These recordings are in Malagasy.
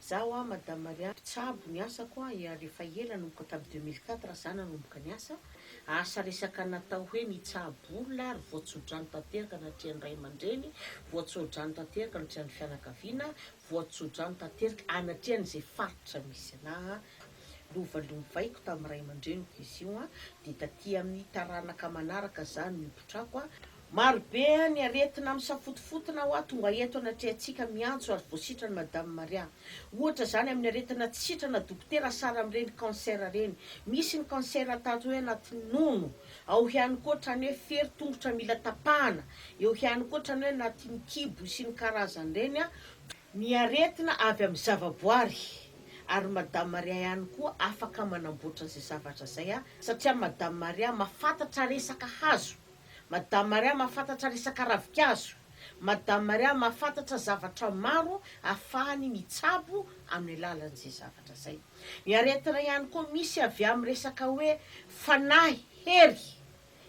Za hoa madame Maria mpitsabo ny asako a eary efa ela nomboka tamin'ny deux mille quatre za nanomboka ny asa asa resaka natao hoe nitsabo olona ary voatsodrano tanteraka natrehan'ny ray aman-dreny voatsodrano tanteraka natrehan'ny fianakaviana voatsodrano tanteraka anatrehan'izay faritra misy anah a lova lovaiko tamin'ny ray aman-dreniko izy io a dia taty amin'ny taranaka manaraka za no nipotrako a Maro be ny aretina misafotofotona hoa tonga eto anatrehantsika miantso ary voasitra ny Madame Maria. Ohatra izany amin'ny aretina tsy sitrana dokotera sara amin'ireny cancer ireny. Misy ny cancer ataty hoe anaty nono, ao ihany koa hatrany hoe fery tongotra mila tapahana, eo ihany koa hatrany hoe anatin'ny kibo sy ny karazany ireny, ny aretina avy amin'ny zavaboary, ary Madame Maria ihany koa afaka manamboatra izay zavatra izay satria Madame Maria mahafantatra resaka hazo. Madame Maria mahafantatra resaka ravikazo. Madame Maria mahafantatra zavatra maro ahafahany mitsabo amin'ny alalan'izay zavatra izay. Ny aretina ihany koa misy avy amin'ny resaka hoe fanahy, hery,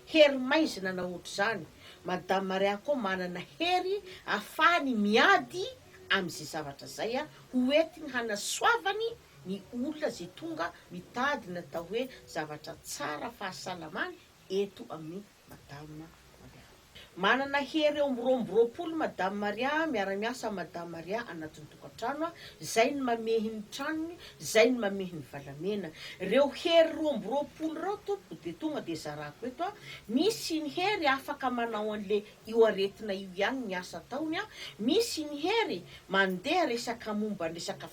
hery maizina na ohatr'izany. Madame Maria koa manana hery ahafahany miady amin'izay zavatra izay ho entiny hanasoavany ny olona izay tonga mitady ny atao hoe zavatra tsara fahasalamany eto amin'i Madame Maria. Manana hery eo amin'ny roa amby roapolo Madame Maria, miara-miasa amin'i Madame Maria anatin'ny tokantrano aho, izay no mamehy ny tranony, izay no mamehy ny valamena. Ireo hery roa amby roapolo ireo tompoko dia tonga dia zarako eto aho, misy ny hery afaka manao an'le io aretina io ihany ny asa ataony, misy ny hery mandeha resaka momba ny resaka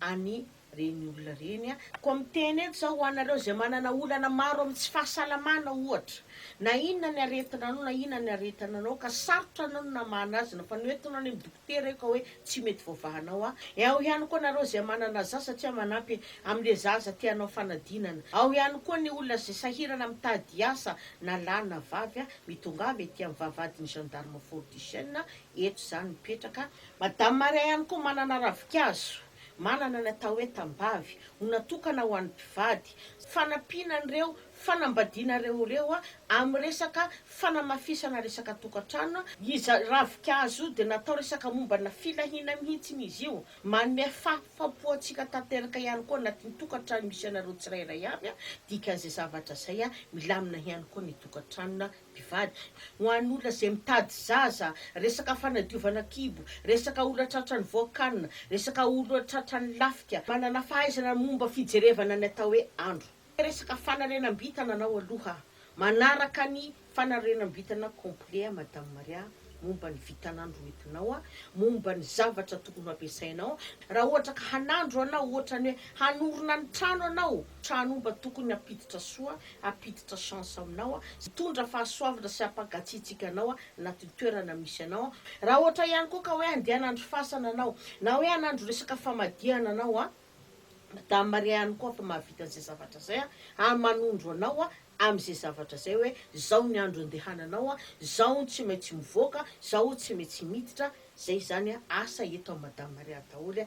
any reny olona reny a. Koa miteny eto za ho anareo izay manana olana maro amin'ny tsy fahasalamana ohatra, na inona ny aretina anao na inona ny aretina anao ka sarotra anao ny namahana azy na fa noentinao any amin'ny dokotera io ka hoe tsy mety voavahanao a, ao ihany koa nareo izay manana zaza satria manampy amin'le zaza te hanao fanadinana, ao ihany koa ny olona izay sahirana mitady asa na lahy na vavy a, mitongava ety amin'ny vavahadin'ny gendarme Fort du Chêne eto za no mipetraka Madame Maria ihany koa manana ravikazo, manana ny atao hoe tambavy, ho natokana ho an'ny mpivady, fanampiana an'ireo fanambadiana ireo ireo amin'ny resaka fanamafisana resaka tokantrano, izy ravikazo io dia natao resaka mombana filahiana mihitsiny izy io, manome fahafam-po antsika tanteraka ihany koa anatin'ny tokantrano misy anareo tsirairay avy, dikan'izay zavatra izay milamina ihany koa ny tokantrano mpivady, ho an'olona izay mitady zaza, resaka fanadiovana kibo, resaka olona tratran'ny voakanina, resaka olona tratran'ny lafika, manana fahaizana momba fijerevana ny atao hoe andro, resaka fanarenam-bintana anao aloha manaraka ny fanarenam-bintana complet Madame Maria. momba ny vintan'andro hoentinao, momba ny zavatra tokony ho ampiasainao, raha ohatra ka hanandro anao, ohatrany hoe hanorina ny trano anao, trano omba tokony hampiditra soa, hampiditra chance aminao, hitondra fahasoavana sy hampagatsiatsiaka anao anatin'ny toerana misy anao, raha ohatra ihany koa ka hoe handeha hanandro fasana anao, na hoe hanandro resaka famadihana anao, Madame Maria ihany koa afa mahavita an'izay zavatra izay, manondro anao amin'izay zavatra izay hoe izao ny andro andehananao, izao ny tsy maintsy mivoaka, izao tsy maintsy miditra, izay izany asa eto amin'i Madame Maria daholo.